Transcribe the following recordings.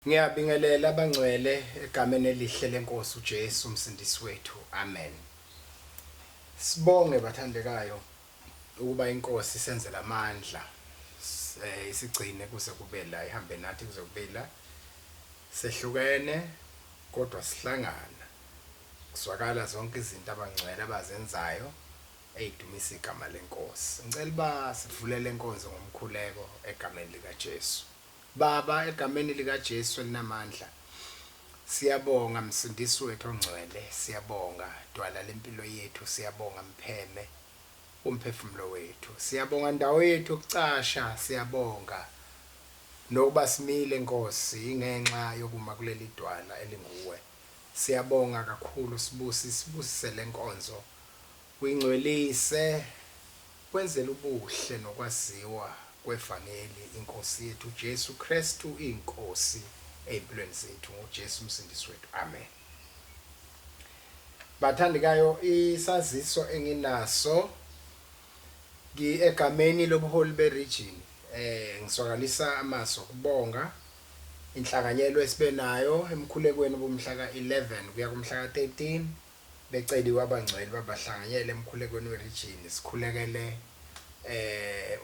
Ngiyabingelela abangcwele egameni elihle lenkosi uJesu umsindisi wethu. Amen. Sibonge bathandekayo ukuba inkosi isenzele amandla isigcine kuze kube la ihambe nathi kuze kube la sehlukene kodwa sihlangana kuzwakala zonke izinto abangcwele abazenzayo eyidumisa igama lenkosi ngicela uba sivulele inkonzo ngomkhuleko egameni likaJesu Baba, eGameni likaJesu elinamandla, siyabonga, Msindisi wethu oNgcwele, siyabonga, Dwala lempilo yethu, siyabonga, Mpheme womphefumulo wethu, siyabonga, Ndawo yethu yokucasha, siyabonga, nokuba simile, Nkosi, yingenxa yokuma kuleliDwala elinguWe. Siyabonga kakhulu, Sibusi, sibusise lenkonzo. Uyingcwelise kwenzela ubuhle nokwaziwa kwevangeli iNkosi yethu uJesu Kristu iyiNkosi eyimpilweni zethu ngoJesu uMsindisi wethu Amen. Bathandekayo isaziso enginaso ngi egameni lobuholi be region eh ngiswakalisa amaso kubonga inhlanganyelo esibe nayo emkhulekweni bomhla ka 11 kuya kumhla ka 13 Beceliwe abangcwele ukuba bahlanganyele emkhulekweni werijini. Sikhulekele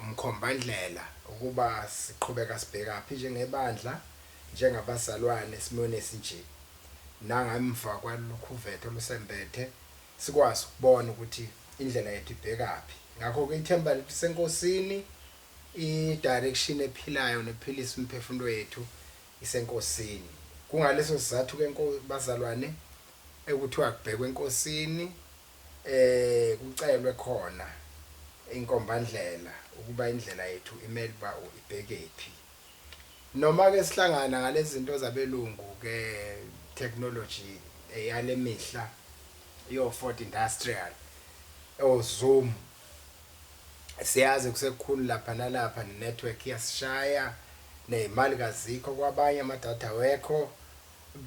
umkhombandlela ukuba siqhubeka sibhekaphi njengebandla, njengabazalwane esimweni esinje. Nangemva kwalolukhuvethe olusembethe, sikwazi ukubona ukuthi indlela yethu ibhekaphi. Ngakho-ke, ithemba lethu liseNkosini, idirection ephilayo nephilisa imiphefumulo yethu. isenkosini. Kungaleso sizathu ke bazalwane ekuthiwa kubhekwe enkosini kucelwe khona inkombandlela ukuba indlela yethu imele uba ibhekephi. Noma ke sihlangana ngalezinto zabelungu ke technology eyalemihla yo Ford Industrial, o Zoom, Siyazi kusekukhulu lapha nalapha ne-network iyasishaya, ney'mali kazikho kwabanye ama-data awekho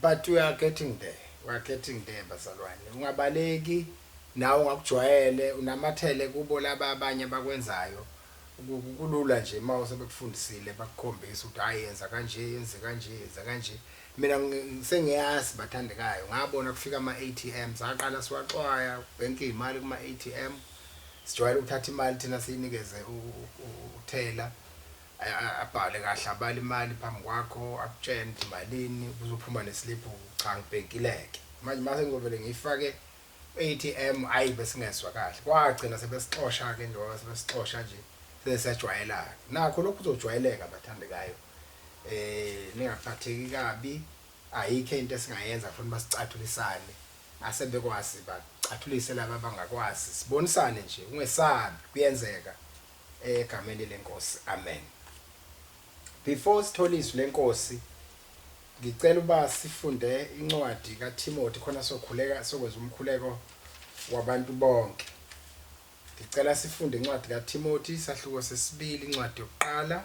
but we are getting there, we are getting there bazalwane. Ungabaleki nawe ungakujwayele unamathele kubo laba abanye abakwenzayo kulula nje uma usebekufundisile bakukhombisa ukuthi hhayi yenza kanje, yenze kanje, yenza kanje. Mina sengiyazi bathandekayo ngabona kufika ama-ATM saqala siwaxwaya bhenke izimali kuma-ATM sijwayele ukuthatha imali thina siyinikeze uthela abhale kahle abale imali phambi kwakho akutshene ukuthi malini kuzophuma nesiliphu cha ngibhenkileke manje mase ngizovele ngiyifake ATM ayi besingezwa kahle kwagcina sebesixosha ke njengoba sebesixosha nje sesajwayelana nakho lokhu kuzojwayeleka bathandekayo eh ningaphatheki kabi ayikho into esingayenza kufanele basicathulisane asebekwazi bacathulise laba abangakwazi sibonisane nje ungesabi kuyenzeka eh, egameni lenkosi amen before sithola izwi lenkosi ngicela uba sifunde incwadi kaTimothy khona sokhuleka sokwenza umkhuleko wabantu bonke ngicela sifunde incwadi kaTimothy sahluko sesibili incwadi yokuqala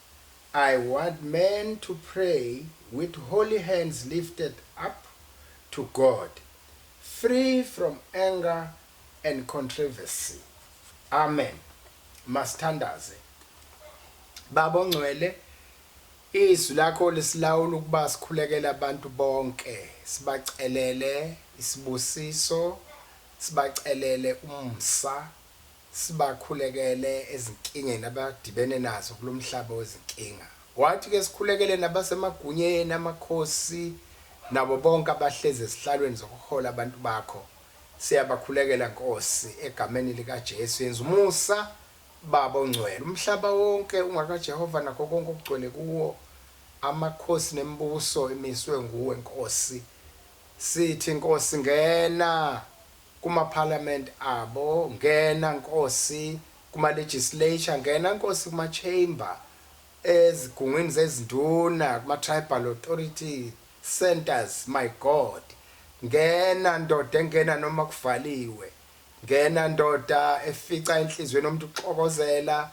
I want men to pray with holy hands lifted up to God free from anger and controversy Amen masithandaze Baba ongcwele izwi lakho lisilawula ukuba sikhulekele abantu bonke sibacelele isibusiso sibacelele umsa Sibakhulekele ezinkingeni abadibene nazo kulo mhlaba wezinkinga. Wathi, Ke sikhulekele nabasemagunyeni, amakhosi, nabo bonke abahlezi ezihlalweni zokuhola abantu bakho. Siyabakhulekela, Nkosi, eGameni likaJesu. Yenza umusa, Baba oNgcwele. Umhlaba wonke ungakaJehova nakho konke okugcwele kuwo, amakhosi nemibuso emiswe nguwe, Nkosi. Sithi, Nkosi, ngena! Kuma parliament abo ngena nkosi kuma legislature ngena nkosi kuma chamber ezigungwini zezinduna kuma tribal authority centers my God ngena ndoda engena noma kuvaliwe ngena ndoda efica enhliziyweni yomuntu uxokozela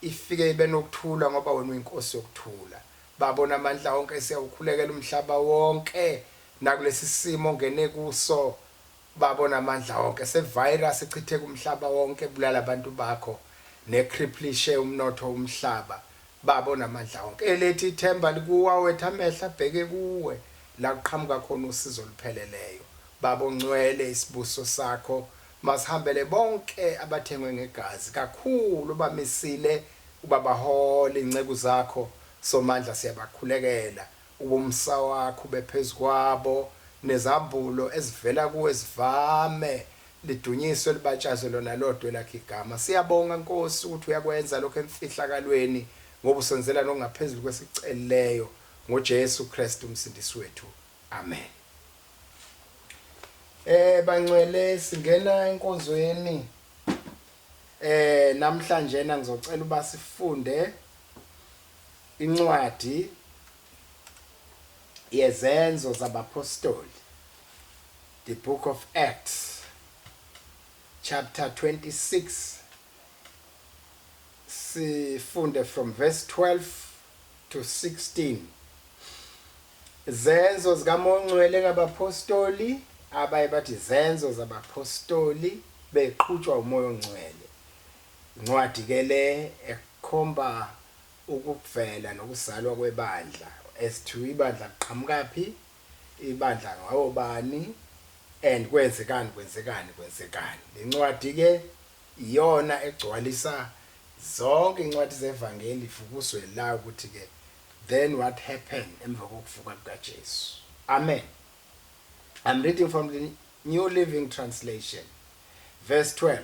ifike ibe nokuthula ngoba wena uyinkosi yokuthula baba onamandla onke siyawukhulekela umhlaba wonke nakulesi simo ongene kuso Babona amandla onke se virus echitheka umhlaba wonke ebulala abantu bakho ne cripplishe umnotho umhlaba babo namandla onke elethi ithemba likuwa wethu amehlo abheke kuwe la kuqhamuka khona usizo olupheleleyo babo ngcwele isibuso sakho masihambele bonke abathengwe ngegazi kakhulu bamisile ubabahole inceku zakho somandla siyabakhulekela Ubumsa wakho ube phezu kwabo, nezambulo ezivela kuwe zivame. Lidunyiswe libatshazwe lona lodwa elakho igama. Siyabonga, Nkosi, ukuthi uyakwenza lokho emfihlakalweni, ngoba usenzela lokho ngaphezulu kwesikucelileyo, ngoJesu Kristu uMsindisi wethu. Amen. Eh bangcwele singena enkonzweni eh namhlanjena ngizocela uba sifunde Incwadi yeZenzo zabaPhostoli, The Book of Acts, chapter 26, sifunde from verse 12 to 16. Zenzo zikaMoya oNgcwele ngabaPhostoli, abaye bathi Zenzo zabaPhostoli beqhutshwa uMoya oNgcwele. Incwadi ke le ekhomba ukuvela nokuzalwa kwebandla as to ibandla liqhamukaphi, ibandla ngawobani and kwenzekani kwenzekani kwenzekani. Le ncwadi ke iyona egcwalisa zonke incwadi zevangeli vukuzwe la ukuthi ke then what happen emva kokuvuka kukaJesu. Amen. I'm reading from the New Living Translation verse 12.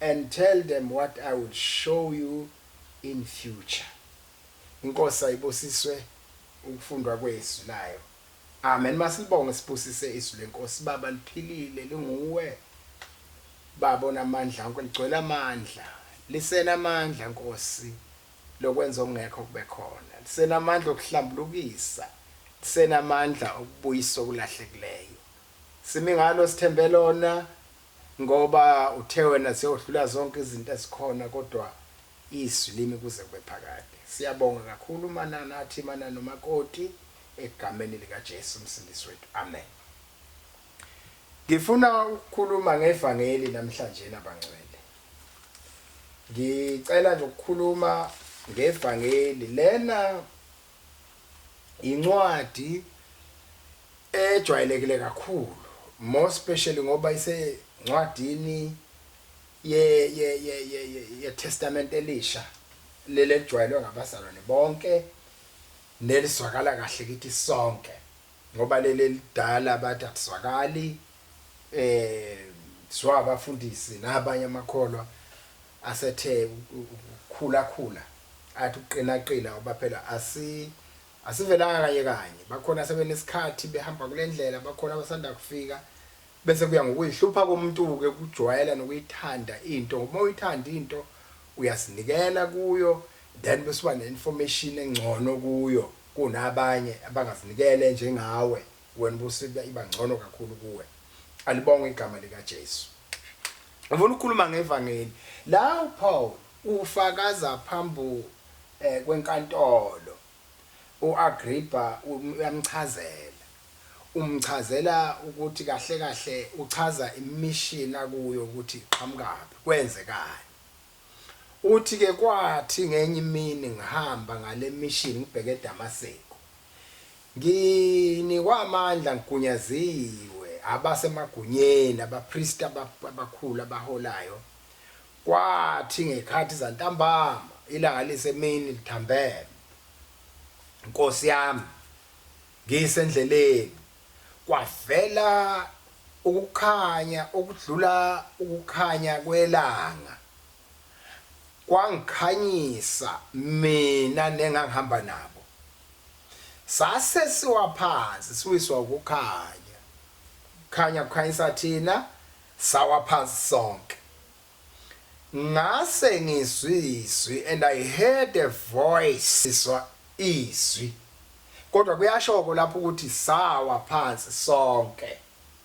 and tell them what I will show you in future inkosi ayibusiswe ukufundwa kwezwi layo amen masilibonge sibusise izwi lenkosi baba liphilile linguwe baba onamandla onke ligcwele amandla lisenamandla nkosi lokwenza okungekho kube khona lisenamandla okuhlambulukisa lisenamandla okubuyisa okulahlekileyo simi ngalo sithembe lona Ngoba uthe wena sewdlula zonke izinto ezikhona kodwa izwi limi kuze kube phakade. Siyabonga kakhulu Manana athi Manana umakoti egameni lika Jesu umsindisi wethu Amen. Ngifuna ukukhuluma ngevangeli namhlanjena bangcwele. Ngicela nje ukukhuluma ngevangeli lena yincwadi ejwayelekile kakhulu more specially ngoba isencwadini ye ye ye ye ye testament elisha leli elijwayelwe ngabazalwane bonke nelizwakala kahle kithi sonke ngoba leli elidala bathi akuzwakali eh zwa abafundisi nabanye amakholwa asethe ukukhula khula athi ukuqina qina ngoba phela asi asivelanga kanye kanye bakhona sebenesikhathi behamba kulendlela bakhona abasanda kufika bese kuya ngokuyihlupha komuntu ke ukujwayela nokuyithanda into ngoba uyithanda into uyazinikela kuyo then bese uba neinformation engcono kuyo kunabanye abangazinikele njengawe wena busiba iba ngcono kakhulu kuwe alibonge igama lika Jesu Ngifuna ukukhuluma ngevangeli. La uPaul ufakaza phambu eh, kwenkantolo. UAgrippa uyamchazela. Umchazela ukuthi kahle kahle uchaza immission akuyo ukuthi iqhamukaphi, kwenzekani. Uthi ke kwathi ngenye imini ngihamba ngale mission ngibheke eDamaseku. Nginikwa amandla ngigunyaziwe abase magunyeni abapristi abakhulu abaholayo kwathi ngekhathi zantambama ilanga lisemini lithambeme. Nkosi yami ngise ndleleni Kwavela ukukhanya okudlula ukukhanya kwelanga, kwangikhanyisa mina nengangihamba nabo. Sase siwa phansi siwiswa ukukhanya, ukukhanya kukhanyisa thina, sawa phansi sonke. Ngase ngizwa izwi and I heard a voice ngizwa izwi kodwa kuyashoko lapho ukuthi sawa phansi sonke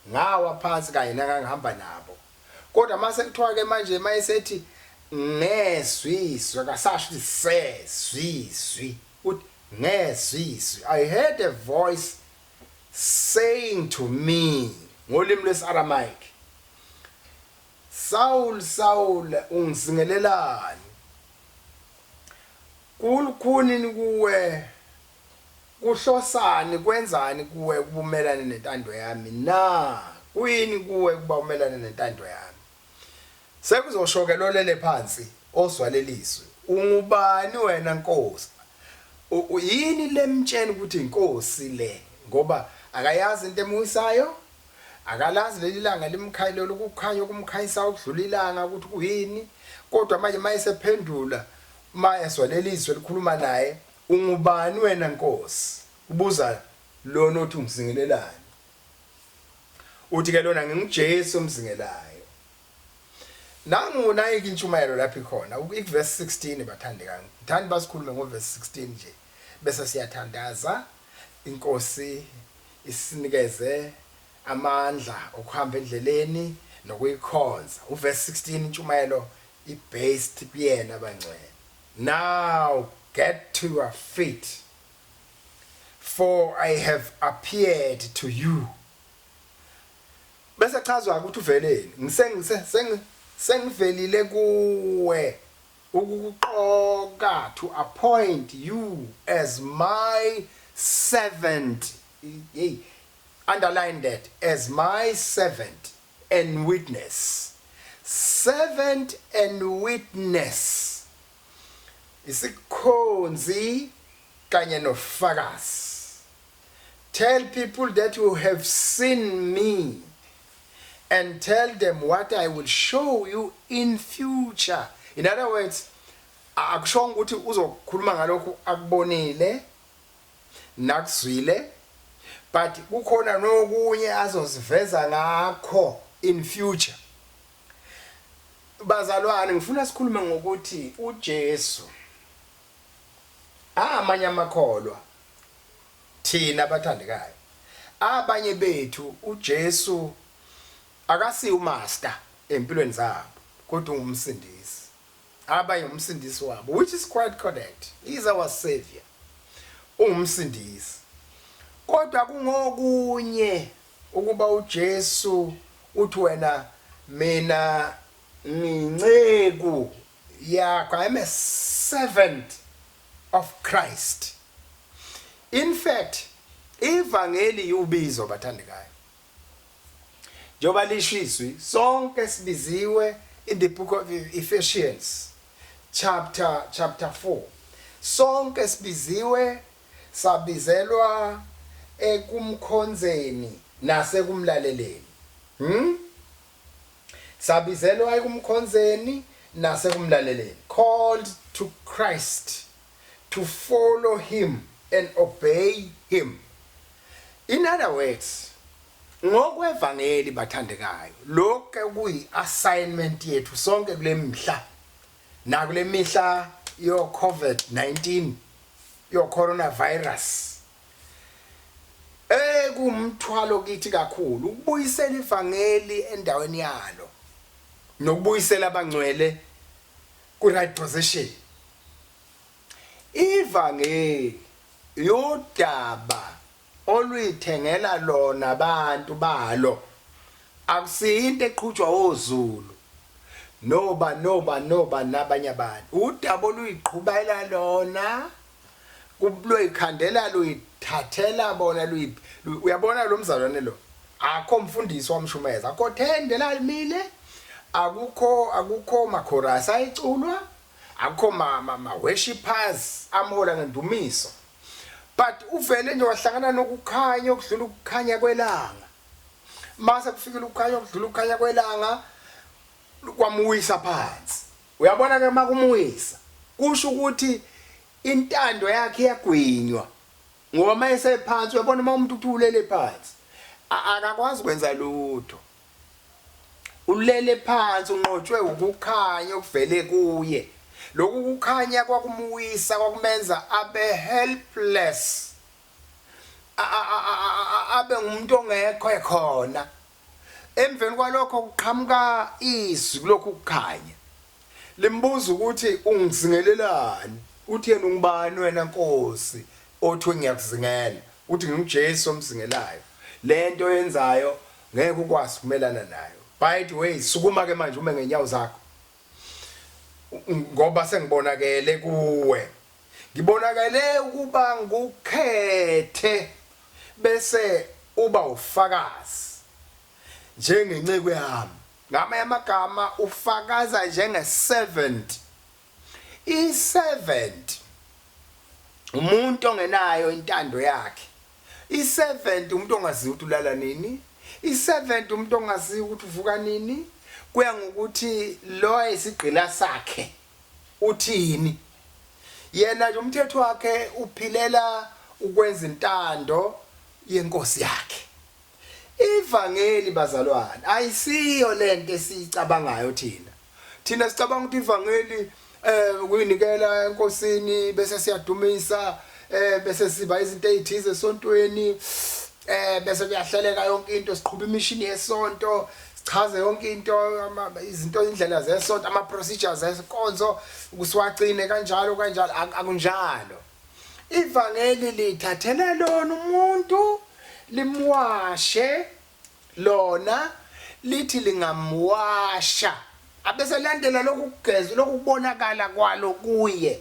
ngawa phansi kanye nangangihamba nabo kodwa mase kuthiwa ke manje mayesethi ngezwi izwi akasasho ukuthi sezwi izwi uthi ngezwi izwi I heard a voice saying to me ngolimi lwesi-Aramaic Saul, Saul, ungizingelelani? Kul'khunin kuwe? Kuhlosani, kwenzani kuwe ukuba umelane nentando yami na? Kuyini kuwe ukuba umelane nentando yami? Sekuzosho-ke lolele phansi, ozwa lelizwi, Ungubani wena, Nkosi? U, u, yini lemtsheni ukuthi iNkosi le, ngoba akayazi into emuwisayo? Akalazi leli langa limkhayilele ukukhanya okumkhanyisayo okudlula ilanga ukuthi kuyini, kodwa manje uma esephendula, uma ezwa leli zwi elikhuluma naye, Ungubani wena Nkosi? kubuza lona othi umzingelelani. Uthi-ke lona, NginguJesu omzingelayo. Nangu nayike intshumayelo lapho ikhona ikuvesi 16 bathandekani. Ngithanda basikhulume ngovesi 16 nje bese siyathandaza inkosi isinikeze amandla okuhamba endleleni nokuyikhonza. Uvesi 16 intshumayelo ibased kuyena bangcwele. Now get to your feet for I have appeared to you. Bese chazwa-ke ukuthi uveleni. Ngiseng, se, seng, sengivelile kuwe ukukuqoka to appoint you as my servant, hey, underline that, as my servant and witness. Servant and witness. Isikhonzi kanye nofakazi. Tell people that you have seen me and tell them what I will show you in future. In other words, akushonga ukuthi uzokhuluma ngalokhu akubonile nakuzwile but kukhona nokunye azoziveza ngakho in future bazalwane ngifuna sikhulume ngokuthi uJesu A Amanye amakholwa, thina abathandekayo, abanye bethu uJesu akasiye uMaster empilweni zabo kodwa unguMsindisi. Abanye nguMsindisi wabo, which is quite correct, He is our Saviour, unguMsindisi. Kodwa kungokunye ukuba uJesu uthi wena mina nginceku Yakho, I am a servant of Christ. In fact, ivangeli iwubizo bathandekayo. Njengoba lisho izwi, sonke sibiziwe in the book of Ephesians chapter chapter 4. Sonke sibiziwe sabizelwa ekumkhonzeni nasekumlaleleni. Hmm? Sabizelwa ekumkhonzeni nasekumlaleleni, called to Christ, to follow Him and obey Him. In other words, ngokwevangeli bathandekayo, lokhu ke kuyi assignment yethu sonke kulemihla nakulemihla yo COVID-19 yo coronavirus. Ey kuwumthwalo kithi kakhulu ukubuyisela ivangeli endaweni yalo nokubuyisela abangcwele ku right position. Ivangeli yodaba oluyithengela lona abantu balo akusinto eqhutshwa oZulu noba noba noba nabanye abantu udaba oluyiqhubela lona Loyikhandela luyithathela bona luyiphi uyabona lo mzalwane lo akho mfundisi wamshumeza akho thende lalimile akukho akukho makhorasi ayiculwa akukho ma, ma, ma worshippers amhola ngendumiso but uvele nje wahlangana nokukhanya okudlula ukukhanya kwelanga mase kufikile ukukhanya okudlula ukukhanya kwelanga kwamuwisa phansi Uyabona ke makumwisa kusho ukuthi intando yakhe iyagwinywa ngoba mayesephansi uyabona uma umuntu uthi ulele phansi akakwazi kwenza lutho ulele phansi unqotshwe ukukhanya okuvele kuye lokhu kukhanya kwakumwisa kwakumenza abe helpless abe ngumuntu ongekho ekhona Emveni kwalokho kuqhamuka izwi kulokhu kukhanya. Limbuza ukuthi ungizingelelani? Uthi yena ungubani wena Nkosi othi ngiyakuzingela? Uthi nginguJesu omzingelayo. Lento yenzayo ngeke ukwazi kumelana nayo. By the way, sukuma ke manje ume ngenyawo zakho. Ngoba sengibonakele kuwe Ngibonakale ukuba ngukhethe bese uba ufakazi njengenceku yami. Ngamanye amagama ufakaza njenge-servant. I-servant umuntu ongenayo intando yakhe. I-servant umuntu ongaziyo ukuthi ulala nini. I-servant umuntu ongaziyo ukuthi uvuka nini. Kuya ngokuthi lo ayisigqila sakhe. uthini. Yena nje umthetho wakhe uphilela ukwenza intando yenkosi yakhe. Ivangeli bazalwane ayisiyo lento esiyicabangayo thina. Thina sicabanga ukuthi ivangeli eh ukuyinikela enkosini bese siyadumisa eh bese siba izinto ezithize esontweni eh bese kuyahleleka yonke into siqhuba imishini yesonto sichaze yonke into izinto indlela zesonto ama procedures esinkonzo ukusiwagcine kanjalo kanjalo akunjalo ivangeli lithathele lona umuntu limwashe lona lithi lingamwasha abese landela lokugeza lokubonakala kwalo kuye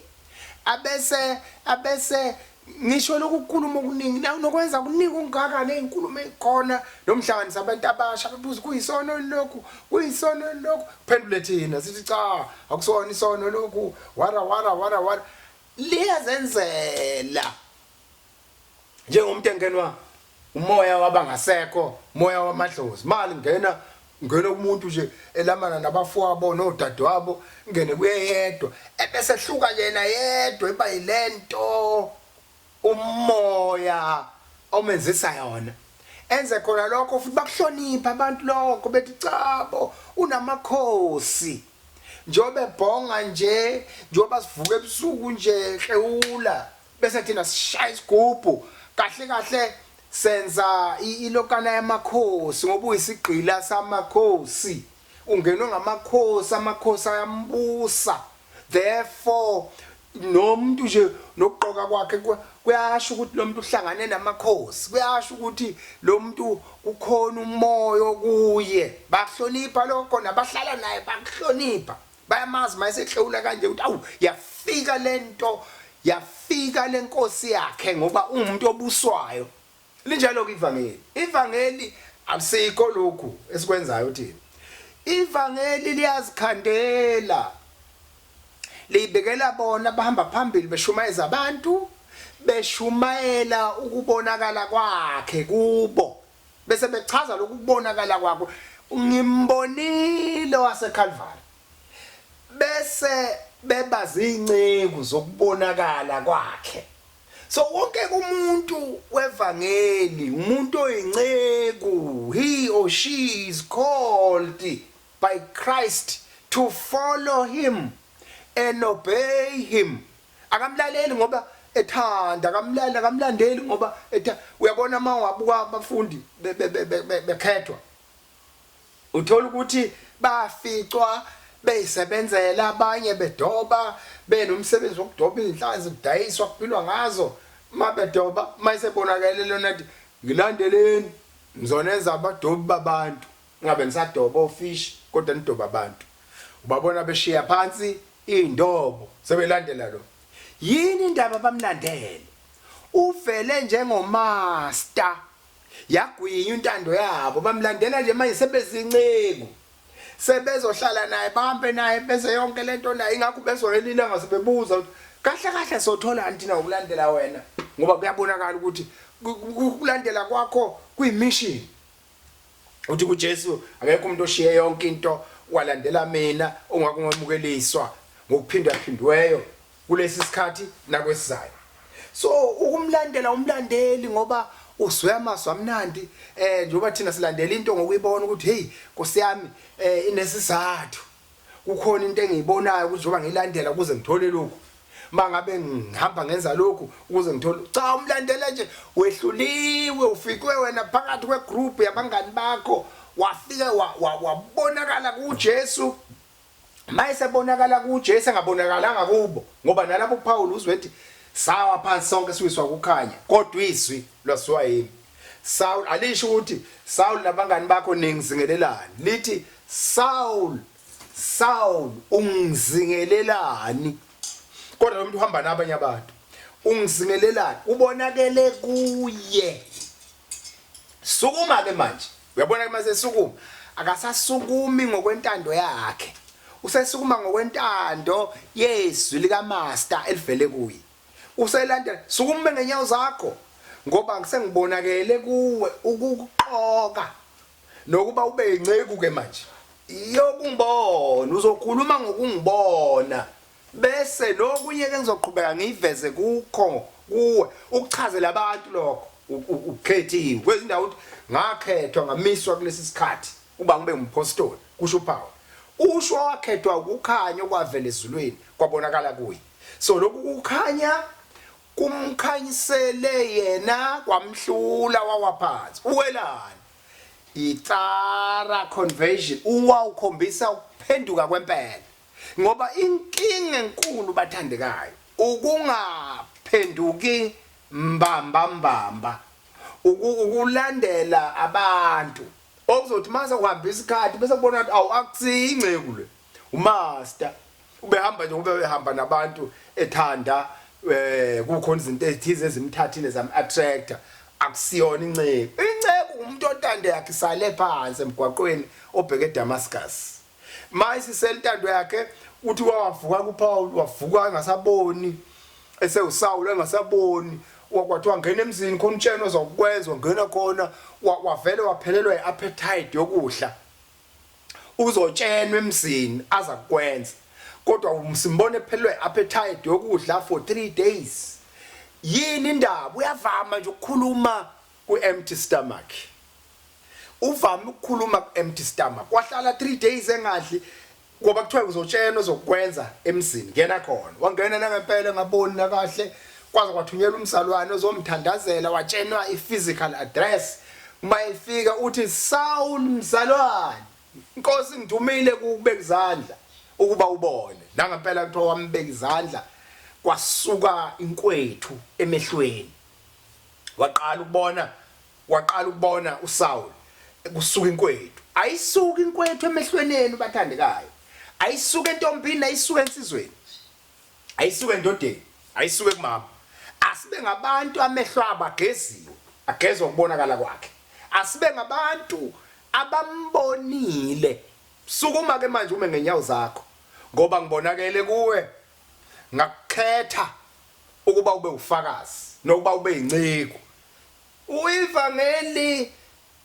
abese abese Ngisho lokhu kukhuluma okuningi nawe nokwenza kuningi okungaka nezinkulumo ezikhona nomhlanganisa abantu abasha bebuza kuyisono lokhu kuyisono lokhu phendule thina sithi cha akusona isono lokhu wara wara wara wara liyazenzela njengomuntu engenwa Umoya wabangasekho, moya wamadlozi. Mali ngena ngena kumuntu nje elamana nabafowabo nodadewabo ngene kuyeyedwa ebese hluka yena yedwa iba yilento umoya omenzisa yona enze khona lokho futhi bakuhlonipha abantu lokho bethi chabo unamakhosi njengoba ebhonga nje njengoba sivuka ebusuku nje hlewula Bese thina sishaya isigubhu kahle kahle senza ilokana yamakhosi ngoba uyisigqila samakhosi ungenwe ngamakhosi amakhosi ayambusa therefore nomuntu nje nokugqoka kwakhe kuyasho ukuthi lo muntu uhlangane namakhosi kuyasho ukuthi lo muntu kukhona umoya okuye bakuhlonipha lokho nabahlala naye bakuhlonipha bayamazi mayesehlewula kanje ukuthi awu yafika lento yafika lenkosi yakhe ngoba ungumuntu obuswayo linjalo ke ivangeli ivangeli akusiko lokhu esikwenzayo thina ivangeli liyazikhandela liyibekela bona bahamba phambili beshumayeza abantu beshumayela ukubonakala kwakhe kubo Bese bechaza lokhu kubonakala kwakho, ngimbonile owaseKalvari. Bese beba zinceku zokubonakala kwakhe. So wonke umuntu wevangeli, umuntu oyinceku, he or she is called by Christ to follow him and obey him. Akamlaleli ngoba ethanda, akamlaleli, akamlandeli ngoba etha. Uyabona uma ungabuka abafundi bekhethwa, uthola ukuthi baficwa beyisebenzela abanye bedoba benomsebenzi wokudoba iy'nhlanzi kudayiswa kuphilwa ngazo uma bedoba uma isebonakele lona ngilandeleni ngizonenza abadobi babantu Ngabe nisadoba ofishi kodwa nidoba abantu. Ubabona beshiya phansi indobo sebelandela lo. Yini indaba bamlandele. Uvele njengomaster. Yagwinywa intando yabo bamlandela nje manje sebezinceku. Sebezohlala naye bahambe naye bese yonke lento naye ingakho bezolele ilanga sebebuza ukuthi kahle kahle sothola antina ukulandela wena ngoba kuyabonakala ukuthi ukulandela kwakho kuyimission. Uthi kuJesu, Akekho umuntu oshiye yonke into walandela mina ongakungamukeliswa ngokuphindwaphindweyo kulesi sikhathi nakwesizayo. So ukumlandela umlandeli ngoba uzwe amazwi amnandi eh njengoba thina silandela into ngokuyibona ukuthi hey Nkosi yami eh inesizathu kukhona into engiyibonayo ukuthi njengoba ngilandela ukuze ngithole lokhu mangabe ngihamba ngenza lokhu ukuze ngithole cha umlandela nje wehluliwe ufikwe wena phakathi kwegroup yabangani bakho wafike wabonakala kuJesu mayesebonakala kuJesu engabonakalanga kubo ngoba nalapho uPaul uzwe ethi sawa phansi sonke siwiswa kukhanya kodwa izwi lwasiwa yimi Saul alisho ukuthi Saul nabangani bakho ningizingelelani lithi Saul Saul ungizingelelani kodwa umuntu uhamba nabanye abantu ungizingelelani ubonakele kuye sukuma ke manje uyabona ke mase sukuma akasasukumi ngokwentando yakhe usesukuma ngokwentando yezwi lika master elivele kuye uselandela sukume ngenyawo zakho ngoba ngisengibonakele kuwe ukukuqoka nokuba ube yinceku ke manje yokungibona uzokhuluma ngokungibona bese lokunye ke ngizoqhubeka ngiyiveze kukho kuwe ukuchazela abantu lokho ukhethiwe kwezindawo ukuthi ngakhethwa ngamiswa kulesi sikhathi uba ngibe umphostoli kusho uPawulu usho wakhethwa ukukhanya okwavela ezulwini kwabonakala kuye So lokhu kukhanya kumkhanyisele yena kwamhlula wawa phansi. Uwelani? Itsara conversion uwa ukhombisa ukuphenduka kwempela. Ngoba inkinga enkulu bathandekayo ukungaphenduki mbamba mbamba ukulandela abantu okuzothi mase uhamba isikhathi bese kubona ukuthi awu akusiyi inceku le uMaster ubehamba nje ngoba behamba nabantu ethanda eh kukhona izinto ezithize ezimthathile zam attractor akusiyona inceku inceku umuntu ontando yakhe isale phansi emgwaqweni obheke eDamascus maye siselintando yakhe uthi wavuka kuPaul wavuka engasaboni esewusawula engasaboni kwathiwa ngena emzini khona utshena ozokwenza ungena khona wavele waphelelwa iappetite yokudla uzotshenwa emzini aza kukwenza kodwa simbone ephelelwe appetite yokudla for 3 days yini indaba uyavama nje ukukhuluma ku empty stomach uvame ukukhuluma ku empty stomach wahlala 3 days engadli ngoba kuthiwa uzotshenwa uzokwenza emzini ngena khona wangena nangempela ngaboni nakahle kwaze kwathunyelwa umzalwane ozomthandazela watshenwa i-physical address uma efika uthi soul mzalwane inkosi ngidumile kukubeka izandla ukuba ubone la ngempela kuthiwa wambeka izandla kwasuka inkwethu emehlweni waqala ukubona waqala ukubona uSaul kusuka inkwethu ayisuka inkwethu emehlweneni bathandekayo ayisuka entombini ayisuka ensizweni ayisuke endodeni ayisuke kumama asibe ngabantu amehlo abo ageziwe agezwa ukubonakala kwakhe asibe ngabantu abambonile sukuma ke manje ume ngenyawo zakho ngoba ngibonakele kuwe ngakukhetha ukuba ube ufakazi nokuba ube inceku uivangeli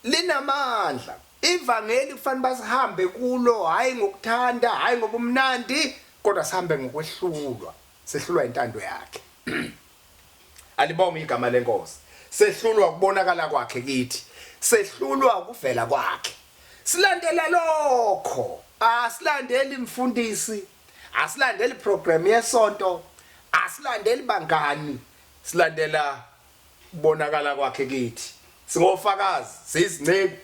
Linamandla. Ivangeli kufanele basihambe kulo hhayi ngokuthanda, hhayi ngobumnandi, kodwa sihambe ngokwehlulwa, sehlulwa intando yakhe. Alibongwe igama leNkosi. Sehlulwa ukubonakala kwakhe kithi. Sehlulwa ukuvela kwakhe. Silandela lokho. Asilandeli mfundisi, asilandeli program yesonto, asilandeli bangani, silandela Ukubonakala kwakhe kithi. SingoFakazi, siyizinceku.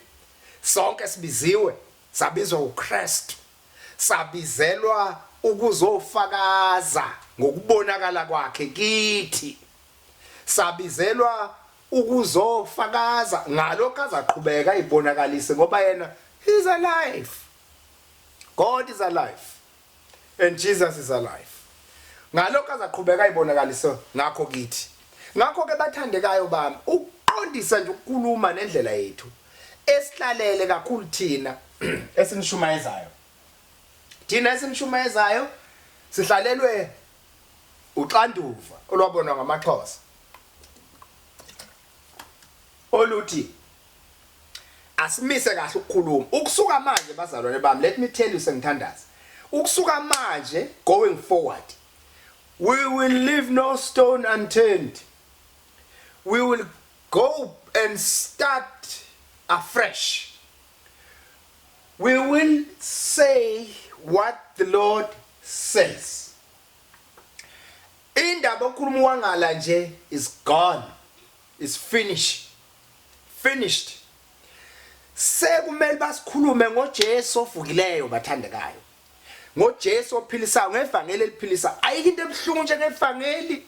Sonke sibiziwe, sabizwa uKristu. Sabizelwa ukuzofakaza ngokubonakala kwakhe kithi. Sabizelwa ukuzofakaza ngalokho azaqhubeka ibonakalise ngoba yena is alive. God is alive. And Jesus is alive. Ngalokho azaqhubeka ayibonakalise ngakho kithi. Ngakho ke bathandekayo bami, ukuqondisa nje ukukhuluma nendlela yethu esihlalele kakhulu thina esinishumayezayo. Thina esinishumayezayo sihlalelwe uxanduva olwabonwa ngamaXhosa. oluthi asimise kahle ukukhuluma ukusuka manje bazalwane bami let me tell you sengithandaza ukusuka manje going forward we will leave no stone unturned we will go and start afresh we will say what the lord says Indaba okhuluma uwangala nje is gone is finish finished sekumele basikhulume ngoJesu ovukileyo bathandekayo ngoJesu ophilisayo ngevangeli eliphilisa ayike into ebuhlungu nje ngevangeli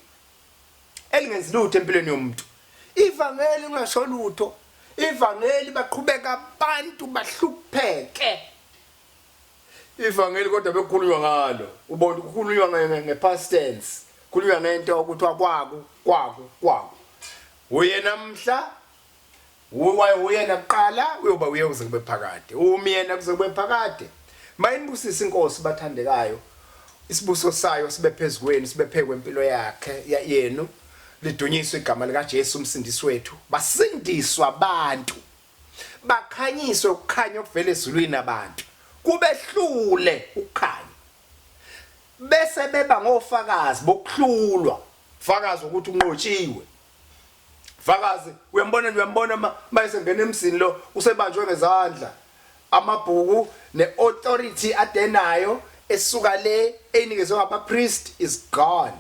elingenzi lutho empilweni yomuntu ivangeli ungasho lutho ivangeli baqhubeka abantu bahlupheke Ivangeli kodwa bekukhulunywa ngalo. Ubona kukhulunywa nge past tense. Kukhulunywa ngento okuthiwa kwaku, kwaku, kwaku. Uyena mhla uwaye uyena kuqala uyoba uye kuze kube phakade. Umyena kuze kube phakade. Mayinibusisa inkosi bathandekayo. Isibuso sayo sibe phezukweni, sibe phekwe impilo yakhe yenu. Lidunyiswe igama lika Jesu umsindisi wethu. Basindiswa abantu. Bakhanyiswe ukukhanya okuvela ezulwini abantu, kubehlule ukukhanya, bese beba ngofakazi bokuhlulwa, fakazi ukuthi unqotshiwe. Fakazi uyambona uyambona mayese ngena emzini lo usebanjwe ngezandla amabhuku ne-authority adenayo esuka le eyinikezwe ngabapriest is gone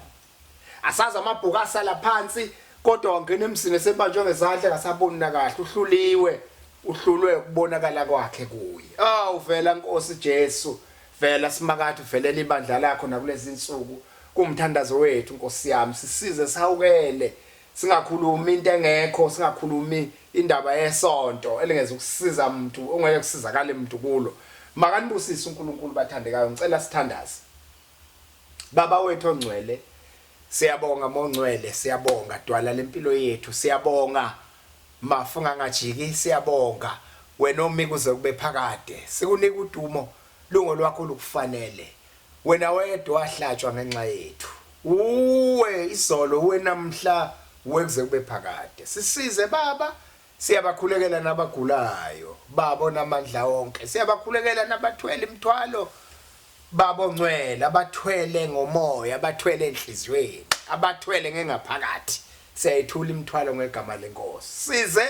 Asazi amabhuku asala phansi kodwa wangena emzini esebanjwe ngezandla ngasaboni nakahle uhluliwe uhlulwe ukubonakala kwakhe kuye. Awu vela Nkosi Jesu, vela simakade uvelela ibandla lakho nakulezi nsuku. Kumthandazo wethu Nkosi yami, sisize sihawukele singakhulumi into engekho, singakhulumi indaba yesonto elingeza ukusiza umuntu ongeke kusizakale umuntu kulo. Makanibusise uNkulunkulu bathandekayo, ngicela sithandaze. Baba wethu ongcwele siyabonga mongcwele siyabonga dwala lempilo yethu siyabonga mafu ngangajiki siyabonga wena omi kuze kube phakade sikunika udumo lungo lwakho lukufanele wena wedwa wahlatshwa ngenxa yethu uwe izolo uwe namhla uwe kuze kube phakade sisize baba Siyabakhulekela nabagulayo, Baba onamandla onke. Siyabakhulekela nabathwele imithwalo, Baba ongcwele, abathwele ngomoya, abathwele enhliziyweni, abathwele ngengaphakathi. Siyayithula imithwalo ngegama lenkosi. Size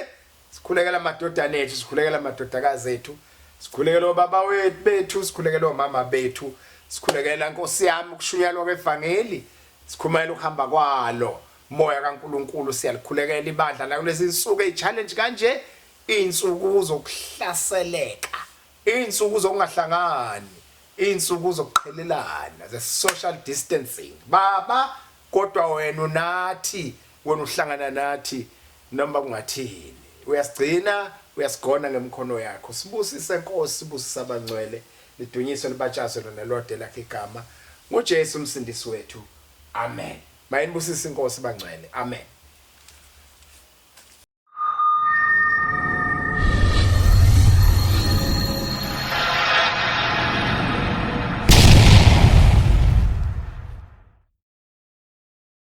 sikhulekela amadodana ethu, sikhulekela amadodakazi ethu, sikhulekela obaba wethu bethu, sikhulekela omama bethu, sikhulekela nkosi yami ukushunyalwa kwevangeli, sikhumayela ukuhamba kwalo. Moya kaNkulunkulu siyalikhulekela ibandla lakulezi nsuku ey challenge kanje insuku zokuhlaseleka insuku zokungahlangani insuku zokuqhelelana ze social distancing baba kodwa wena unathi wena uhlangana nathi noma kungathini uyasigcina uyasigona ngemkhono yakho sibusise Nkosi sibusisa abangcwele lidunyiswe libatshazwe lona lodela igama ngoJesu umsindisi wethu amen Mayinibusise inkosi bangcwele. Amen.